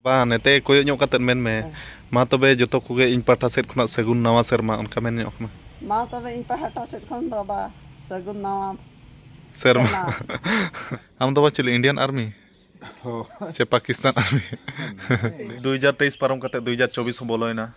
ᱵᱟᱝ ᱱᱮᱛᱮ ᱠᱚᱭᱚᱜ ᱧᱚᱜ ᱠᱟᱛᱮᱫ ᱢᱮᱱ ᱢᱮ ᱢᱟ ᱛᱚᱵᱮ ᱡᱚᱛᱚ ᱠᱚᱜᱮ ᱤᱧ ᱯᱟᱦᱴᱟ ᱥᱮᱫ ᱠᱷᱚᱱᱟᱜ ᱥᱟᱹᱜᱩᱱ ᱱᱟᱣᱟ ᱥᱮᱨᱢᱟ ᱚᱱᱠᱟ ᱢᱮᱱ ᱧᱚᱜ ᱢᱮ ᱢᱟ ᱛᱚᱵᱮ ᱤᱧ ᱯᱟᱦᱴᱟ ᱥᱮᱫ ᱠᱷᱚᱱ ᱫᱚ ᱵᱟ ᱥᱟᱹᱜᱩᱱ ᱱᱟᱣᱟ ᱥᱮᱨᱢᱟ ᱟᱢ ᱫᱚ ᱵᱟ ᱪᱮᱫ ᱤᱱᱰᱤᱭᱟᱱ ᱟᱨᱢᱤ ᱥᱮ ᱯᱟᱠᱤᱥᱛᱟᱱ ᱟᱨᱢᱤ ᱫᱩ ᱦᱟᱡᱟᱨ ᱛᱮᱭᱤᱥ ᱯᱟᱨᱚᱢ ᱠᱟᱛᱮᱫ ᱫᱩ ᱦᱟᱡᱟᱨ ᱪᱚᱵᱵᱤᱥ ᱦᱚᱸ ᱵᱚᱞᱚᱭᱮᱱᱟ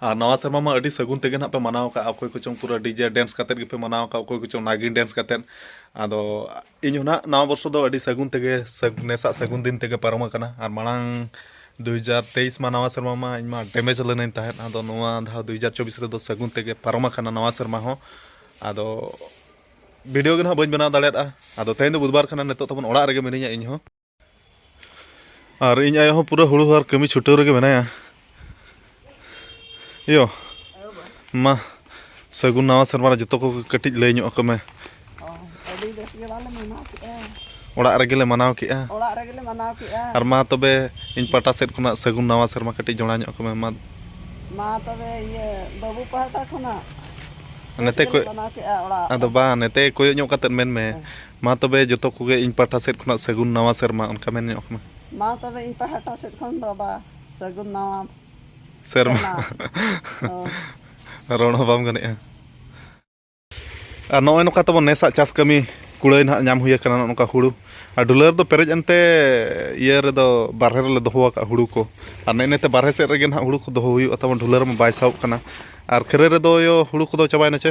ᱟᱨ ᱱᱟᱣᱟ ᱥᱮᱨᱢᱟ ᱢᱟ ᱟᱹᱰᱤ ᱥᱟᱹᱜᱩᱱ ᱛᱮᱜᱮ ᱱᱟᱜ ᱯᱮ ᱢᱟᱱᱟᱣ ᱠᱟᱜᱼᱟ ᱚᱠᱚᱭ ᱠᱚᱪᱚᱝ ᱯᱩᱨᱟᱹ ᱰᱤᱡᱮ ᱰᱮᱱᱥ ᱠᱟᱛᱮ ᱜᱮᱯᱮ ᱢᱟᱱᱟᱣ ᱠᱟᱜᱼᱟ ᱚᱠᱚᱭ ᱠᱚᱪᱚᱝ ᱱᱟᱜᱤᱱ ᱰᱮᱱᱥ ᱠᱟᱛᱮ ᱟᱫᱚ ᱤᱧ ᱦᱚᱸ ᱱᱟᱜ ᱱᱟᱣᱟ ᱵᱚᱨᱥᱚ ᱫᱚ ᱟᱹᱰᱤ ᱥᱟᱹᱜᱩᱱ ᱛᱮᱜᱮ ᱱᱮᱥᱟᱜ ᱥᱟᱹᱜᱩᱱ ᱫᱤᱱ ᱛᱮᱜᱮ ᱯᱟᱨᱚᱢ ᱟᱠᱟᱱᱟ ᱟᱨ ᱢᱟᱲᱟᱝ ᱫᱩᱭ ᱦᱟᱡᱟᱨ ᱛᱮᱭᱤᱥ ᱢᱟ ᱱᱟᱣᱟ ᱥᱮᱨᱢᱟ ᱢᱟ ᱤᱧ ᱢᱟ ᱰᱮᱢᱮᱡᱽ ᱞᱮᱱᱟᱹᱧ ᱛᱟᱦᱮᱸᱫ ᱟᱫᱚ ᱱᱚᱣᱟ ᱫᱷᱟᱣ ᱫᱩᱭ ᱦᱟᱡᱟᱨ ᱪᱚᱵᱵᱤᱥ ᱨᱮᱫᱚ ᱥᱟᱹᱜᱩᱱ ᱛᱮᱜᱮ ᱯᱟᱨᱚᱢ ᱟᱠᱟᱱᱟ ᱱᱟᱣᱟ ᱥᱮᱨᱢᱟ ᱦᱚᱸ ᱟᱫᱚ ᱵᱷᱤᱰᱤᱭᱳ ᱜᱮ ᱱᱟᱜ ᱵᱟᱹᱧ ᱵᱮᱱᱟᱣ ᱫᱟᱲᱮᱭᱟᱫᱼᱟ ᱟᱫᱚ ᱛᱮᱦᱮᱧ ᱫᱚ ᱵᱩᱫᱷᱵᱟᱨ ᱠᱟᱱᱟ ᱱᱤᱛᱚᱜ ᱛᱟᱵᱚᱱ ᱚᱲᱟᱜ ᱨᱮᱜᱮ ᱢᱤᱱᱟᱹᱧᱟ ᱤᱧ ᱦᱚᱸ ᱟᱨ ᱤᱧ ᱟᱭᱳ ᱦᱚᱸ ᱯᱩᱨᱟᱹ ᱦᱩᱲᱩ ᱟᱨ ᱠᱟᱹᱢᱤ ᱪᱷᱩᱴᱟᱹᱣ ᱨᱮᱜᱮ ᱢᱮᱱᱟᱭᱟ ᱤᱭᱳ ᱢᱟ ᱥᱟᱹᱜᱩᱱ ᱱᱟᱣᱟ ᱥᱮᱨᱢᱟ ᱨᱮ ᱡᱚᱛᱚ ᱠᱚ ᱠᱟᱹᱴᱤᱡ ᱞᱟᱹᱭ ᱧᱚᱜ ᱟᱠᱚ ᱢᱮ ᱟᱹᱰᱤ ᱵᱮᱥ ᱜᱮ ᱵᱟᱞᱮ ᱢᱟᱱᱟᱣ ᱠᱮᱫᱼᱟ ᱚᱲᱟᱜ ᱨᱮᱜᱮ ᱞᱮ ᱢᱟᱱᱟᱣ ᱠᱮᱫᱼᱟ ᱚᱲᱟᱜ ᱨᱮᱜᱮ ᱞᱮ ᱢᱟᱱᱟᱣ ᱠᱮᱫᱼᱟ ᱟᱨ ᱢᱟ ᱛᱚᱵᱮ ᱤᱧ ᱯᱟᱦᱴᱟ ᱥᱮᱫ ᱠᱷᱚᱱᱟᱜ ᱥᱟᱹᱜᱩᱱ ᱱᱟᱣᱟ ᱥᱮᱨᱢᱟ ᱠᱟᱹᱴᱤᱡ ᱡᱚᱲᱟ ᱧᱚᱜ ᱟᱠᱚ ᱢᱮ ᱢᱟ ᱢᱟ ᱛᱚᱵᱮ ᱤᱭᱟᱹ ᱵᱟᱹᱵᱩ ᱯᱟᱦᱴᱟ ᱠᱷᱚᱱᱟᱜ ᱱᱮᱛᱮ ᱠᱚ ᱢᱟᱱᱟᱣ ᱠᱮᱫᱼᱟ ᱚᱲᱟᱜ ᱟᱫᱚ ᱵᱟᱝ ᱱᱮᱛᱮ ᱠᱚᱭᱚᱜ ᱧᱚᱜ ᱠᱟᱛᱮᱫ ᱢᱮᱱ ᱢᱮ ᱢᱟ ᱛᱚᱵᱮ ᱡᱚᱛᱚ ᱠᱚᱜᱮ ᱤᱧ ᱯᱟᱦᱴᱟ ᱥᱮᱫ ᱠᱷᱚᱱᱟᱜ ᱥᱟᱹᱜᱩᱱ ᱱᱟᱣᱟ ᱥᱮᱨᱢᱟ ᱚᱱᱠᱟ ᱢᱮᱱ ᱧᱚᱜ ᱠᱟᱱᱟ ᱢᱟ ᱛᱚᱵᱮ ᱤᱧ ᱯᱟᱦᱴᱟ ᱥᱮᱫ ᱠᱷᱚᱱ ᱵᱟᱵᱟ ᱥᱟᱹᱜᱩᱱ ᱱᱟᱣᱟ ᱥᱮᱨᱢᱟ ᱨᱚᱲ ᱦᱚᱸ ᱵᱟᱢ ᱜᱟᱱᱮᱜᱼᱟ ᱟᱨ ᱱᱚᱜᱼᱚᱭ ᱱᱚᱝᱠᱟ ᱛᱟᱵᱚᱱ ᱱᱮᱥᱟᱜ ᱪᱟᱥ ᱠᱟᱹᱢᱤ ᱠᱩᱲᱟᱹᱭ ᱱᱟᱦᱟᱜ ᱧᱟᱢ ᱦᱩᱭ ᱟᱠᱟᱱᱟ ᱱᱚᱝᱠᱟ ᱦᱩᱲᱩ ᱟᱨ ᱰᱩᱞᱟᱹ ᱨᱮᱫᱚ ᱯᱮᱨᱮᱡ ᱮᱱᱛᱮ ᱤᱭᱟᱹ ᱨᱮᱫᱚ ᱵᱟᱨᱦᱮ ᱨᱮᱞᱮ ᱫᱚᱦᱚ ᱟᱠᱟᱫ ᱦᱩᱲᱩ ᱠᱚ ᱟᱨ ᱱᱮᱜᱼᱮ ᱱᱮᱛᱮ ᱵᱟᱨᱦᱮ ᱥᱮᱫ ᱨᱮᱜᱮ ᱱᱟᱦᱟᱜ ᱦᱩᱲᱩ ᱠᱚ ᱫᱚᱦᱚ ᱦᱩᱭᱩᱜᱼᱟ ᱛᱟᱵᱚᱱ ᱰᱩᱞᱟᱹ ᱨᱮᱢᱟ ᱵᱟᱭ ᱥᱟᱦᱚᱵ ᱠᱟᱱᱟ ᱟᱨ ᱠᱷᱟᱹᱨᱟᱹᱭ ᱨᱮᱫᱚ ᱦᱩᱲᱩ ᱠᱚᱫᱚ ᱪᱟᱵᱟᱭᱮᱱᱟ ᱪᱮ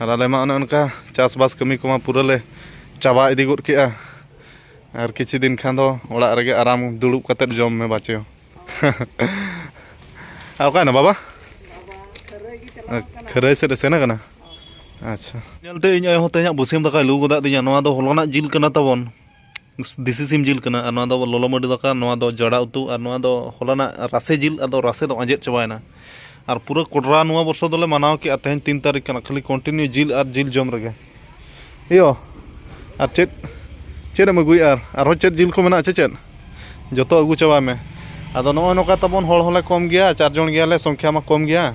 ᱟᱨ ᱟᱞᱮ ᱢᱟ ᱚᱱᱮ ᱚᱱᱠᱟ ᱪᱟᱥᱵᱟᱥ ᱠᱟᱹᱢᱤ ᱠᱚᱢᱟ ᱯᱩᱨᱟᱹ ᱞᱮ ᱪᱟᱵᱟ ᱤᱫᱤ ᱜᱚᱫ ᱠᱮᱜᱼᱟ ᱟᱨ ᱠᱤᱪᱷᱩ ᱫᱤᱱ ᱠᱷᱟᱱ ᱫᱚ ᱚᱲᱟᱜ ᱨᱮᱜᱮ ᱟᱨᱟᱢ ᱫᱩᱲᱩᱵ ᱠᱟᱛᱮᱫ ᱡᱚᱢ ᱢᱮ ᱵᱟᱪᱚ ᱟᱨ ᱚᱠᱟᱭᱮᱱᱟ ᱵᱟᱵᱟ ᱠᱷᱟᱹᱨᱟᱹᱭ ᱥᱮᱫ ᱮ ᱥᱮᱱ ᱟᱠᱟᱱᱟ ᱟᱪᱪᱷᱟ ᱧᱮᱞᱛᱮ ᱤᱧ ᱟᱭᱳ ᱦᱚᱸ ᱛᱮᱦᱮᱧᱟᱜ ᱵᱟᱹᱥᱭᱟᱹᱢ ᱫᱟᱠᱟᱭ ᱞᱩ ᱜᱚᱫᱟᱜ ᱛᱤᱧᱟ ᱱᱚᱣᱟ ᱫᱚ ᱦᱚᱞᱟᱱᱟᱜ ᱡᱤᱞ ᱠᱟᱱᱟ ᱛᱟᱵᱚᱱ ᱫᱮᱥᱤ ᱥᱤᱢ ᱡᱤᱞ ᱠᱟᱱᱟ ᱟᱨ ᱱᱚᱣᱟ ᱫᱚ ᱞᱚᱞᱚ ᱢᱟᱹᱰᱤ ᱫᱟᱠᱟ ᱱᱚᱣᱟ ᱫᱚ ᱡᱚᱲᱟ ᱩᱛᱩ ᱟᱨ ᱱᱚᱣᱟ ᱫᱚ ᱦᱚᱞᱟᱱᱟᱜ ᱨᱟᱥᱮ ᱡᱤᱞ ᱟᱫᱚ ᱨᱟᱥᱮ ᱫᱚ ᱟᱸᱡᱮᱫ ᱪᱟᱵᱟᱭᱮᱱᱟ ᱟᱨ ᱯᱩᱨᱟᱹ ᱠᱚᱰᱨᱟ ᱱᱚᱣᱟ ᱵᱚᱨᱥᱚ ᱫᱚᱞᱮ ᱢᱟᱱᱟᱣ ᱠᱮᱜᱼᱟ ᱛᱮᱦᱮᱧ ᱛᱤᱱ ᱛᱟᱹᱨᱤᱠᱷ ᱠᱟᱱᱟ ᱠᱷᱟᱹᱞᱤ ᱠᱚᱱᱴᱤᱱᱤᱭᱩ ᱡᱤᱞ ᱟᱨ ᱡᱤᱞ ᱡᱚᱢ ᱨᱮᱜᱮ ᱮᱭᱳ ᱟᱨ ᱪᱮᱫ ᱪᱮᱫ ᱮᱢ ᱟᱹᱜᱩᱭᱮᱜᱼᱟ ᱟᱨᱦᱚᱸ ᱪᱮᱫ ᱡᱤᱞ ᱠᱚ ᱢᱮᱱᱟᱜᱼᱟ ᱥᱮ ᱪᱮᱫ ᱡᱚᱛᱚ ᱟᱹᱜᱩ ᱪᱟᱵᱟᱭ ᱢᱮ ᱟᱫᱚ ᱱᱚᱜᱼᱚᱸᱭ ᱱᱚᱝᱠᱟ ᱛᱟᱵᱚᱱ ᱦᱚᱲ ᱦᱚᱸᱞᱮ ᱠᱚᱢ ᱜᱮᱭᱟ ᱪᱟᱨ ᱡᱚᱱ ᱜᱮᱭᱟᱞᱮ ᱥᱚᱝᱠᱷᱟ ᱢᱟ ᱠᱚᱢ ᱜᱮᱭᱟ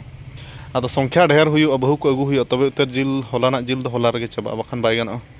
ᱟᱫᱚ ᱥᱚᱝᱠᱷᱟ ᱰᱷᱮᱨ ᱦᱩᱭᱩᱜᱼᱟ ᱵᱟᱹᱦᱩ ᱠᱚ ᱟᱹᱜᱩ ᱦᱩᱭᱩᱜᱼᱟ ᱛᱚᱵᱮ ᱩᱛᱟᱹᱨ ᱡᱤᱞ ᱦᱚᱞᱟᱱᱟᱜ ᱡᱤᱞ ᱫᱚ ᱦᱚᱞᱟ ᱨᱮᱜᱮ ᱪᱟᱵᱟᱜᱼᱟ ᱵᱟᱠᱷᱟᱱ ᱵᱟᱭ ᱜᱟᱱᱚᱜᱼᱟ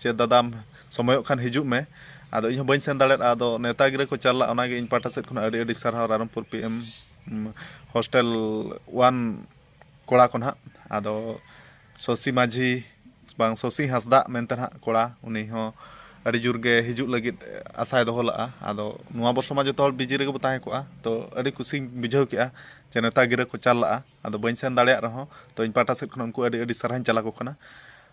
ᱡᱮ ᱫᱟᱫᱟᱢ ᱥᱚᱢᱚᱭᱚᱜ ᱠᱷᱟᱱ ᱦᱤᱡᱩᱜ ᱢᱮ ᱟᱫᱚ ᱤᱧ ᱦᱚᱸ ᱵᱟᱹᱧ ᱥᱮᱱ ᱫᱟᱲᱮᱭᱟᱫᱼᱟ ᱟᱫᱚ ᱱᱮᱣᱛᱟ ᱜᱤᱨᱟᱹ ᱠᱚ ᱪᱟᱞ ᱞᱮᱫᱼᱟ ᱚᱱᱟ ᱜᱮ ᱤᱧ ᱯᱟᱦᱴᱟ ᱥᱮᱫ ᱠᱷᱚᱱᱟᱜ ᱟᱹᱰᱤ ᱟᱹᱰᱤ ᱥᱟᱨᱦᱟᱣ ᱨᱟᱭᱨᱚᱝᱯᱩᱨ ᱯᱤ ᱮᱢ ᱦᱳᱥᱴᱮᱞ ᱚᱣᱟᱱ ᱠᱚᱲᱟ ᱠᱚ ᱱᱟᱦᱟᱜ ᱟᱫᱚ ᱥᱚᱥᱤ ᱢᱟᱹᱡᱷᱤ ᱵᱟᱝ ᱥᱚᱥᱤ ᱦᱟᱸᱥᱫᱟ ᱢᱮᱱᱛᱮ ᱱᱟᱦᱟᱜ ᱠᱚᱲᱟ ᱩᱱᱤ ᱦᱚᱸ ᱟᱹᱰᱤ ᱡᱳᱨ ᱜᱮ ᱦᱤᱡᱩᱜ ᱞᱟᱹᱜᱤᱫ ᱟᱥᱟᱭ ᱫᱚᱦᱚ ᱞᱮᱫᱼᱟ ᱟᱫᱚ ᱱᱚᱣᱟ ᱵᱚᱨᱥᱚ ᱢᱟ ᱡᱚᱛᱚ ᱦᱚᱲ ᱵᱤᱡᱤ ᱨᱮᱜᱮ ᱵᱚᱱ ᱛᱟᱦᱮᱸ ᱠᱚᱜᱼᱟ ᱛᱚ ᱟᱹᱰᱤ ᱠᱩᱥᱤᱧ ᱵᱩᱡᱷᱟᱹᱣ ᱠᱮᱫᱼᱟ ᱡᱮ ᱱᱮᱣᱛᱟ ᱜᱤᱨᱟᱹ ᱠᱚ ᱪᱟᱞ ᱞᱮᱫᱼᱟ ᱟᱫᱚ ᱵᱟᱹᱧ ᱥᱮᱱ ᱫᱟᱲᱮᱭᱟᱜ ᱨᱮᱦᱚᱸ ᱛᱚ ᱤᱧ ᱯᱟᱦᱴᱟ ᱥᱮᱫ ᱠᱷᱚᱱ ᱩᱱᱠᱩ ᱟᱹᱰᱤ ᱟᱹᱰᱤ ᱥᱟᱨᱦᱟᱣ ᱤᱧ ᱪᱟᱞ ᱟᱠᱚ ᱠᱟᱱᱟ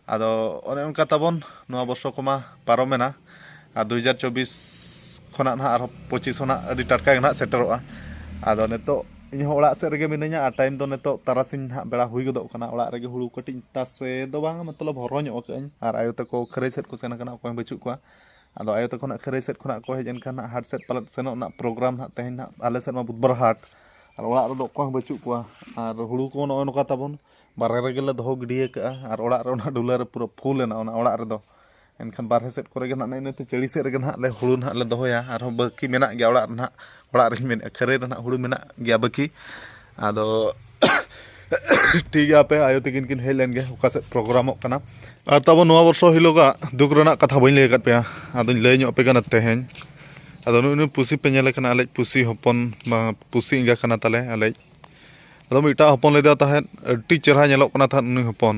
ᱟᱫᱚ ᱚᱱᱮ ᱚᱱᱠᱟ ᱛᱟᱵᱚᱱ ᱱᱚᱣᱟ ᱵᱚᱨᱥᱚ ᱠᱚᱢᱟ ᱯᱟᱨᱚᱢᱮᱱᱟ ᱟᱨ ᱫᱩ ᱦᱟᱡᱟᱨ ᱪᱚᱵᱵᱤᱥ ᱠᱷᱚᱱᱟᱜ ᱱᱟᱦᱟᱜ ᱟᱨᱦᱚᱸ ᱯᱚᱸᱪᱤᱥ ᱦᱚᱸ ᱱᱟᱦᱟᱜ ᱟᱹᱰᱤ ᱴᱟᱴᱠᱟ ᱜᱮ ᱱᱟᱦᱟᱜ ᱥᱮᱴᱮᱨᱚᱜᱼᱟ ᱟᱫᱚ ᱱᱤᱛᱚᱜ ᱤᱧ ᱦᱚᱸ ᱚᱲᱟᱜ ᱥᱮᱫ ᱨᱮᱜᱮ ᱢᱤᱱᱟᱹᱧᱟ ᱟᱨ ᱴᱟᱭᱤᱢ ᱫᱚ ᱱᱤᱛᱚᱜ ᱛᱟᱨᱟᱥᱤᱧ ᱱᱟᱦᱟᱜ ᱵᱮᱲᱟ ᱦᱩᱭ ᱜᱚᱫᱚᱜ ᱠᱟᱱᱟ ᱚᱲᱟᱜ ᱨᱮᱜᱮ ᱦᱳᱲᱳ ᱠᱟᱹᱴᱤᱡ ᱛᱟᱥᱮ ᱫᱚ ᱵᱟᱝ ᱢᱚᱛᱞᱚᱵ ᱦᱚᱨᱦᱚ ᱧᱚᱜ ᱠᱟᱜ ᱟᱹᱧ ᱟᱨ ᱟᱭᱳ ᱛᱟᱠᱚ ᱠᱷᱟᱹᱨᱟᱹᱭ ᱥᱮᱫ ᱠᱚ ᱥᱮᱱ ᱠᱟᱱᱟ ᱚᱠᱚᱭ ᱦᱚᱸ ᱵᱟᱹᱪᱩᱜ ᱠᱚᱣᱟ ᱟᱫᱚ ᱟᱭᱳ ᱛᱟᱠᱚ ᱱᱟᱜ ᱠᱷᱟᱹᱨᱟᱹᱭ ᱥᱮᱫ ᱠᱷᱚᱱᱟᱜ ᱠᱚ ᱦᱮᱡ ᱮᱱ ᱠᱷᱟᱱ ᱱᱟᱜ ᱦᱟᱴ ᱥᱮᱫ ᱯᱟᱞᱮᱫ ᱥᱮᱱᱚᱜ ᱨᱮᱱᱟᱜ ᱯᱨᱳᱜᱨᱟᱢ ᱱᱟᱜ ᱛᱮᱦᱮᱧ ᱱᱟᱜ ᱟᱞᱮ ᱥᱮᱫ ᱢᱟ ᱵᱩᱫᱷ ᱵᱟᱨ ᱦᱟᱴ ᱟᱨ ᱚᱲᱟᱜ ᱨᱮᱫᱚ ᱚᱠᱚᱭ ᱦᱚᱸ ᱵᱟᱹᱪᱩᱜ ᱠᱚᱣᱟ ᱟᱨ ᱦᱩᱲᱩ ᱠᱚ ᱱᱚᱜᱼᱚᱭ ᱱᱚᱝᱠᱟ ᱛᱟᱵᱚᱱ ᱵᱟᱦᱨᱮ ᱨᱮᱜᱮ ᱞᱮ ᱫᱚᱦᱚ ᱜᱤᱰᱤ ᱟᱠᱟᱫᱼᱟ ᱟᱨ ᱚᱲᱟᱜ ᱨᱮ ᱚᱱᱟ ᱰᱩᱞᱟᱹ ᱨᱮ ᱯᱩᱨᱟᱹ ᱯᱷᱩᱞ ᱮᱱᱟ ᱚᱱᱟ ᱚᱲᱟᱜ ᱨᱮᱫᱚ ᱮᱱᱠᱷᱟᱱ ᱵᱟᱦᱨᱮ ᱥᱮᱫ ᱠᱚᱨᱮ ᱜᱮ ᱱᱟᱜ ᱱᱮᱜᱼᱮ ᱱᱤᱭᱟᱹ ᱪᱟᱹᱲᱤ ᱥᱮᱫ ᱨᱮᱜᱮ ᱱᱟᱜ ᱞᱮ ᱦᱩᱲᱩ ᱱᱟᱜ ᱞᱮ ᱫᱚᱦᱚᱭᱟ ᱟᱨᱦᱚᱸ ᱵᱟᱹᱠᱤ ᱢᱮᱱᱟᱜ ᱜᱮᱭᱟ ᱚᱲᱟᱜ ᱨᱮ ᱱᱟᱜ ᱚᱲᱟᱜ ᱨᱮᱧ ᱢᱮᱱᱮᱫᱼᱟ ᱠᱷᱟᱹᱨᱟᱹᱭ ᱨᱮ ᱱᱟᱜ ᱦᱩᱲᱩ ᱢᱮᱱᱟᱜ ᱜᱮᱭᱟ ᱵᱟᱹᱠᱤ ᱟᱫᱚ ᱴᱷᱤᱠ ᱜᱮᱭᱟ ᱟᱯᱮ ᱟᱭᱳ ᱛᱟᱹᱠᱤᱱ ᱠᱤᱱ ᱦᱮᱡ ᱞᱮᱱ ᱜᱮ ᱚᱠᱟ ᱥᱮᱫ ᱯᱨᱳᱜᱨᱟᱢᱚᱜ ᱠᱟᱱᱟ ᱟᱨ ᱛᱟᱵᱚ ᱱᱚᱣᱟ ᱵᱚᱨᱥᱚ ᱦᱤᱞᱳᱜᱟᱜ ᱫᱩᱠ ᱨᱮᱱᱟᱜ ᱠᱟᱛᱷᱟ ᱵᱟᱹᱧ ᱞᱟᱹᱭ ᱟᱠᱟᱫ ᱯᱮᱭᱟ ᱟᱫᱚᱧ ᱞᱟᱹᱭ ᱧᱚᱜ ᱟᱯᱮ ᱠᱟᱱᱟ ᱛᱮᱦᱮᱧ ᱟᱫᱚ ᱱᱩᱭ ᱱᱩᱭ ᱯᱩᱥᱤ ᱯᱮ ᱧᱮᱞᱮ ᱠᱟᱱᱟ ᱟᱞᱮᱭᱤᱡ ᱯᱩᱥᱤ ᱦᱚᱯᱚᱱ ᱵᱟᱝ ᱯᱩᱥᱤ ᱮᱸᱜᱟ ᱠᱟᱱᱟ ᱛᱟᱞᱮ ᱟᱞᱮᱭᱤᱡ ᱟᱫᱚ ᱢᱤᱫᱴᱟᱝ ᱦᱚᱯᱚᱱ ᱞᱮᱫᱮ ᱛᱟᱦᱮᱸᱫ ᱟᱹᱰᱤ ᱪᱮᱦᱨᱟ ᱧᱮᱞᱚᱜ ᱠᱟᱱᱟ ᱛᱟᱦᱮᱸᱫ ᱩᱱᱤ ᱦᱚᱯᱚᱱ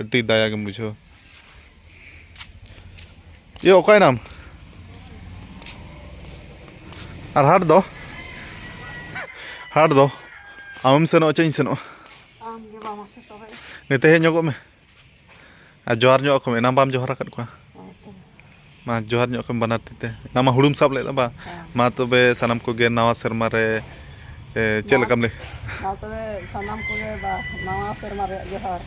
ᱟᱹᱰᱤ ᱫᱟᱭᱟ ᱜᱮᱢ ᱵᱩᱡᱷᱟᱹᱣᱟ ᱤᱭᱟᱹ ᱚᱠᱟᱭᱱᱟᱢ ᱟᱨ ᱦᱟᱴ ᱫᱚ ᱦᱟᱴ ᱫᱚ ᱟᱢᱮᱢ ᱥᱮᱱᱚᱜᱼᱟ ᱪᱮᱫ ᱤᱧ ᱥᱮᱱᱚᱜᱼᱟ ᱱᱤᱛᱮ ᱦᱮᱡ ᱧᱚᱜᱚᱜ ᱢᱮ ᱟᱨ ᱡᱚᱦᱟᱨ ᱧᱚᱜ ᱟᱠᱚ ᱢᱮ ᱮᱱᱟᱝ ᱵᱟᱢ ᱡᱚᱦᱟᱨ ᱟᱠᱟᱫ ᱠᱚᱣᱟ ᱢᱟ ᱡᱚᱦᱟᱨ ᱧᱚᱜ ᱠᱟᱢ ᱵᱟᱱᱟᱨ ᱛᱤᱛᱮ ᱚᱱᱟ ᱢᱟ ᱦᱩᱲᱩᱢ ᱥᱟᱵ ᱞᱮᱫᱟ ᱵᱟ ᱢᱟ ᱛᱚᱵᱮ ᱥᱟᱱᱟᱢ ᱠᱚᱜᱮ ᱱᱟᱣᱟ ᱥᱮᱨᱢᱟ ᱨᱮ ᱮ, ᱪᱮᱫ ᱞᱮᱠᱟᱢ ᱞᱟᱹᱭ ᱢᱟ ᱛᱚᱵᱮ ᱥᱟᱱᱟᱢ ᱠᱚᱜᱮ ᱵᱟ ᱱᱟᱣᱟ ᱥᱮᱨᱢᱟ ᱨᱮᱭᱟᱜ ᱡᱚᱦᱟᱨ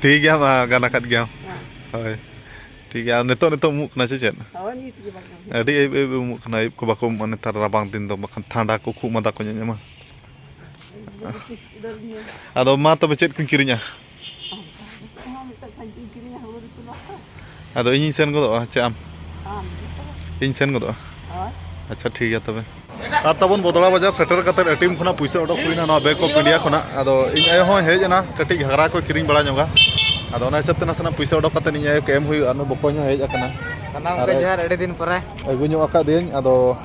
ᱴᱷᱤᱠ ᱜᱮᱭᱟ ᱢᱟ ᱜᱟᱱ ᱟᱠᱟᱫ ᱜᱮᱭᱟᱢ ᱦᱳᱭ ᱴᱷᱤᱠ ᱜᱮᱭᱟ ᱟᱨ ᱱᱤᱛᱚᱜ ᱱᱤᱛᱚᱜ ᱩᱢᱩᱜ ᱠᱟᱱᱟ ᱥᱮ ᱪᱮᱫ ᱦᱳᱭ ᱱᱤᱛ ᱜᱮ ᱵᱟᱝ ᱟᱹᱰᱤ ᱟᱹᱭᱩᱵ ᱟᱹᱭᱩᱵ ᱩᱢᱩᱜ ᱠᱟᱱᱟ ᱟᱹᱭᱩᱵ ᱠᱚ ᱵᱟᱠᱚ ᱩᱢᱩᱜᱼᱟ ᱱᱮᱛᱟᱨ ᱨᱟᱵᱟᱝ ᱫᱤᱱ ᱫᱚ ᱵᱟᱠᱷᱟᱱ ᱴᱷᱟᱱᱰᱟ ᱠᱚ ᱠᱷᱩᱜ ᱢᱟᱫᱟ ᱠᱚ ᱧᱟᱧᱟᱢᱟ ᱟᱫᱚ ᱢᱟ ᱛᱚᱵᱮ ᱪᱮᱫ ᱠᱚᱧ ᱠᱤᱨᱤᱧᱟ ᱟᱫᱚ ᱤᱧᱤᱧ ᱥᱮᱱ ᱜᱚᱫᱚᱜᱼᱟ ᱪᱮ ᱟᱢ ᱤᱧ ᱥᱮᱱ ᱜᱚᱫᱚᱜᱼᱟ ᱟᱪᱪᱷᱟ ᱴᱷᱤᱠ ᱜᱮᱭᱟ ᱛᱚᱵᱮ ᱟᱨ ᱛᱟᱵᱚᱱ ᱵᱚᱫᱚᱲᱟ ᱵᱟᱡᱟᱨ ᱥᱮᱴᱮᱨ ᱠᱟᱛᱮ ᱮᱴᱤᱮᱢ ᱠᱷᱚᱱᱟᱜ ᱯᱩᱭᱥᱟᱹ ᱚᱰᱚᱠ ᱦᱩᱭᱱᱟ ᱱᱚᱣᱟ ᱵᱮᱝᱠ ᱚᱯᱷ ᱤᱱᱰᱤᱭᱟ ᱠᱷᱚᱱᱟᱜ ᱟᱫᱚ ᱤᱧ ᱟᱭᱳ ᱦᱚᱸ ᱦᱮᱡ ᱮᱱᱟ ᱠᱟᱹᱴᱤᱡ ᱜᱷᱟᱜᱽᱨᱟ ᱠᱚ ᱠᱤᱨᱤᱧ ᱵᱟᱲᱟ ᱧᱚᱜᱟ ᱟᱫᱚ ᱚᱱᱟ ᱦᱤᱥᱟᱹᱵ ᱛᱮ ᱱᱟᱥᱮᱱᱟᱜ ᱯᱩᱭᱥᱟᱹ ᱚᱰᱚᱠ ᱠᱟᱛᱮ ᱤᱧ ᱟᱭᱳ ᱠᱚ ᱮᱢ ᱦᱩᱭᱩᱜᱼᱟ ᱱᱩᱭ ᱵᱚᱠᱚᱧ ᱦᱚᱸ ᱦᱮᱡ ᱟᱠᱟᱱᱟ ᱥᱟᱱᱟᱢ ᱠᱚ ᱡᱚᱦᱟᱨ ᱟᱹᱰᱤ ᱫᱤᱱ ᱯᱚᱨᱮ ᱟᱹᱜᱩ ᱧᱚᱜ ᱟᱠᱟᱫᱤᱭᱟᱹᱧ ᱟᱫᱚ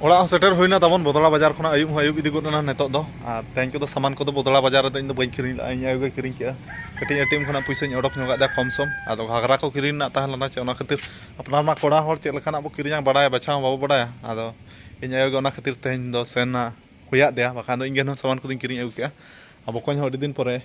ᱚᱲᱟᱜ ᱦᱚᱸ ᱥᱮᱴᱮᱨ ᱦᱩᱭᱱᱟ ᱛᱟᱵᱚᱱ ᱵᱚᱫᱚᱲᱟ ᱵᱟᱡᱟᱨ ᱠᱷᱚᱱᱟᱜ ᱟᱹᱭᱩᱵ ᱦᱚᱸ ᱟᱹᱭᱩᱵ ᱤᱫᱤ ᱜᱚᱫ ᱮᱱᱟ ᱱᱤᱛᱚᱜ ᱫᱚ ᱟᱨ ᱛᱮᱦᱮᱧ ᱠᱚᱫᱚ ᱥᱟᱢᱟᱱ ᱠᱚᱫᱚ ᱵᱚᱫᱚᱲᱟ ᱵᱟᱡᱟᱨ ᱨᱮᱫᱚ ᱤᱧ ᱫᱚ ᱵᱟᱹᱧ ᱠᱤᱨᱤᱧ ᱞᱮᱫᱟ ᱤᱧ ᱟᱭᱳ ᱜᱮ ᱠᱤᱨᱤᱧ ᱠᱮᱫᱟ ᱠᱟᱹᱴᱤᱡ ᱮ ᱴᱤ ᱮᱢ ᱠᱷᱚᱱᱟᱜ ᱯᱩᱭᱥᱟᱹᱧ ᱚᱰᱚᱠ ᱧᱚᱜ ᱟᱫᱟ ᱠᱚᱢ ᱥᱚᱢ ᱟᱫᱚ ᱜᱷᱟᱜᱽᱨᱟ ᱠᱚ ᱠᱤᱨᱤᱧ ᱨᱮᱱᱟᱜ ᱛᱟᱦᱮᱸ ᱞᱮᱱᱟ ᱪᱮ ᱚᱱᱟ ᱠᱷᱟᱹᱛᱤᱨ ᱟᱯᱱᱟᱨ ᱢᱟ ᱠᱚᱲᱟ ᱦᱚᱲ ᱪᱮᱫ ᱞᱮᱠᱟᱱᱟᱜ ᱵᱚ ᱠᱤᱨᱤᱧᱟ ᱵᱟᱰᱟᱭ ᱵᱟᱪᱷᱟᱣ ᱵᱟᱵᱚ ᱵᱟᱰᱟᱭᱟ ᱟᱫᱚ ᱤᱧ ᱟᱭᱳ ᱜᱮ ᱚᱱᱟ ᱠᱷᱟᱹᱛᱤᱨ ᱛᱮᱦᱮᱧ ᱫᱚ ᱥᱮᱱ ᱮᱱᱟ ᱦᱩᱭᱟᱫᱮᱭᱟ ᱵᱟᱠᱷᱟᱱ ᱫᱚ ᱤᱧ ᱜᱮ ᱦᱩᱱᱟᱹᱝ ᱥᱟᱢᱟᱱ ᱠᱚᱫᱚᱧ ᱠᱤᱨᱤᱧ ᱟᱹᱜᱩ ᱠᱮᱫᱼᱟ ᱟᱨ ᱵᱚᱠᱚᱧ ᱦᱚᱸ ᱟᱹᱰᱤ ᱫᱤᱱ ᱯᱚᱨᱮ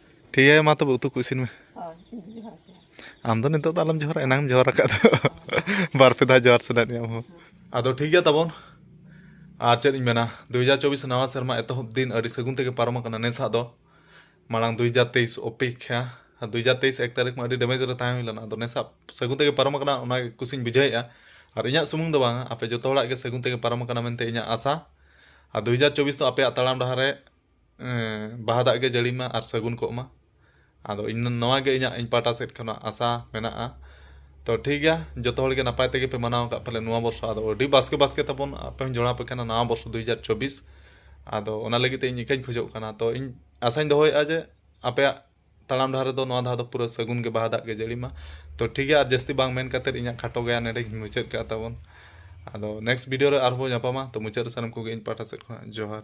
ᱴᱷᱤᱠ ᱜᱮᱭᱟ ᱢᱟ ᱛᱚᱵᱮ ᱩᱛᱩ ᱠᱚ ᱤᱥᱤᱱ ᱢᱮ ᱟᱢ ᱫᱚ ᱱᱤᱛᱚᱜ ᱫᱚ ᱟᱞᱚᱢ ᱡᱚᱦᱟᱨᱟ ᱮᱱᱟᱝ ᱡᱚᱦᱟᱨ ᱟᱠᱟᱫ ᱫᱚ ᱵᱟᱨ ᱯᱮ ᱫᱷᱟᱣ ᱡᱚᱦᱟᱨ ᱥᱟᱱᱟᱭᱮᱫ ᱢᱮᱭᱟ ᱟᱢ ᱦᱚᱸ ᱟᱫᱚ ᱴᱷᱤᱠ ᱜᱮᱭᱟ ᱛᱟᱵᱚᱱ ᱟᱨ ᱪᱮᱫ ᱤᱧ ᱢᱮᱱᱟ ᱫᱩ ᱦᱟᱡᱟᱨ ᱪᱚᱵᱵᱤᱥ ᱱᱟᱣᱟ ᱥᱮᱨᱢᱟ ᱮᱛᱚᱦᱚᱵ ᱫᱤᱱ ᱟᱹᱰᱤ ᱥᱟᱹᱜᱩᱱ ᱛᱮᱜᱮ ᱯᱟᱨᱚᱢ ᱟᱠᱟᱱᱟ ᱱᱮᱥᱟᱜ ᱫᱚ ᱢᱟᱲᱟᱝ ᱫᱩ ᱦᱟᱡᱟᱨ ᱛᱮᱭᱤᱥ ᱚᱯᱮᱠᱷᱟ ᱟᱨ ᱫᱩ ᱦᱟᱡᱟᱨ ᱛᱮᱭᱤᱥ ᱮᱠ ᱛᱟᱹᱨᱤᱠᱷ ᱢᱟ ᱟᱹᱰᱤ ᱰᱮᱢᱮᱡᱽ ᱨᱮ ᱛᱟᱦᱮᱸ ᱦᱩᱭ ᱞᱮᱱᱟ ᱟᱫᱚ ᱱᱮᱥᱟᱜ ᱥᱟᱹᱜᱩᱱ ᱛᱮᱜᱮ ᱯᱟᱨᱚᱢ ᱟᱠᱟᱱᱟ ᱚᱱᱟ ᱠᱩᱥᱤᱧ ᱵᱩᱡᱷᱟᱹᱣᱮᱫᱼᱟ ᱟᱨ ᱤᱧᱟᱹᱜ ᱥᱩᱢᱩᱝ ᱫᱚ ᱵᱟᱝᱟ ᱟᱯᱮ ᱡᱚᱛᱚ ᱦᱚᱲᱟᱜ ᱜᱮ ᱥᱟᱹᱜᱩᱱ ᱛᱮᱜᱮ ᱯᱟᱨᱚᱢ ᱟᱠᱟᱱᱟ ᱢᱮᱱᱛᱮ ᱤᱧᱟᱹᱜ ᱟᱥᱟ ᱟᱨ ᱫᱩ ᱦᱟᱡᱟᱨ ᱪᱚᱵᱵᱤᱥ ᱫᱚ ᱟᱯᱮᱭᱟᱜ ᱛᱟᱲᱟᱢ ᱰᱟᱦᱟᱨ ᱨᱮ ᱵᱟᱦᱟ ᱫᱟᱜ ᱜᱮ ᱡᱟᱹᱲᱤ ᱢᱟ ᱟᱨ ᱥᱟᱹᱜᱩᱱ ᱠᱚᱜ ᱢᱟ ᱟᱫᱚ ᱤᱧ ᱱᱚᱣᱟ ᱜᱮ ᱤᱧᱟᱹᱜ ᱤᱧ ᱯᱟᱦᱴᱟ ᱥᱮᱫ ᱠᱷᱚᱱᱟᱜ ᱟᱥᱟ ᱢᱮᱱᱟᱜᱼᱟ ᱛᱚ ᱴᱷᱤᱠ ᱜᱮᱭᱟ ᱡᱚᱛᱚ ᱦᱚᱲ ᱜᱮ ᱱᱟᱯᱟᱭ ᱛᱮᱜᱮ ᱯᱮ ᱢᱟᱱᱟᱣ ᱠᱟᱜᱼᱟ ᱯᱟᱞᱮᱱ ᱱᱚᱣᱟ ᱵᱚᱨᱥᱚ ᱟᱫᱚ ᱟᱹᱰᱤ ᱵᱟᱥᱠᱮ ᱵᱟᱥᱠᱮ ᱛᱟᱵᱚᱱ ᱟᱯᱮ ᱦᱚᱸᱧ ᱡᱚᱲᱟᱣ ᱟᱯᱮ ᱠᱟᱱᱟ ᱱᱟᱣᱟ ᱵᱚᱨᱥᱚ ᱫᱩ ᱦᱟᱡᱟᱨ ᱪᱚᱵᱵᱤᱥ ᱟᱫᱚ ᱚᱱᱟ ᱞᱟᱹᱜᱤᱫ ᱛᱮ ᱤᱧ ᱤᱠᱟᱹᱧ ᱠᱷᱚᱡᱚᱜ ᱠᱟᱱᱟ ᱛᱚ ᱤᱧ ᱟᱥᱟᱧ ᱫᱚᱦᱚᱭᱮᱜᱼᱟ ᱡᱮ ᱟᱯᱮᱭᱟᱜ ᱛᱟᱲᱟᱢ ᱰᱟᱦᱟᱨ ᱨᱮᱫᱚ ᱱᱚᱣᱟ ᱫᱷᱟᱣ ᱫᱚ ᱯᱩᱨᱟᱹ ᱥᱟᱹᱜᱩᱱ ᱜᱮ ᱵᱟᱦᱟ ᱫᱟᱜ ᱜᱮ ᱡᱟᱹᱲᱤ ᱢᱟ ᱛᱚ ᱴᱷᱤᱠ ᱜᱮᱭᱟ ᱟᱨ ᱡᱟᱹᱥᱛᱤ ᱵᱟᱝ ᱢᱮᱱ ᱠᱟᱛᱮ ᱤᱧᱟᱹᱜ ᱠᱷᱟᱴᱚ ᱜᱮᱭᱟᱱ ᱱᱚᱰᱮᱧ ᱢᱩᱪᱟᱹᱫ ᱠᱟᱜᱼᱟ ᱛᱟᱵᱚᱱ ᱟᱫᱚ ᱱᱮᱠᱥᱴ ᱵᱷᱤᱰᱤᱭᱳ ᱨᱮ ᱟᱨᱦᱚᱸ ᱵᱚᱱ ᱧᱟᱯᱟᱢᱟ ᱛᱚ ᱢᱩᱪᱟᱹᱫ ᱨᱮ ᱥᱟᱱᱟᱢ ᱠᱚᱜᱮ ᱤᱧ ᱯᱟᱦᱴᱟ ᱥᱮᱫ ᱠᱷᱚᱱᱟᱜ ᱡᱚᱦᱟᱨ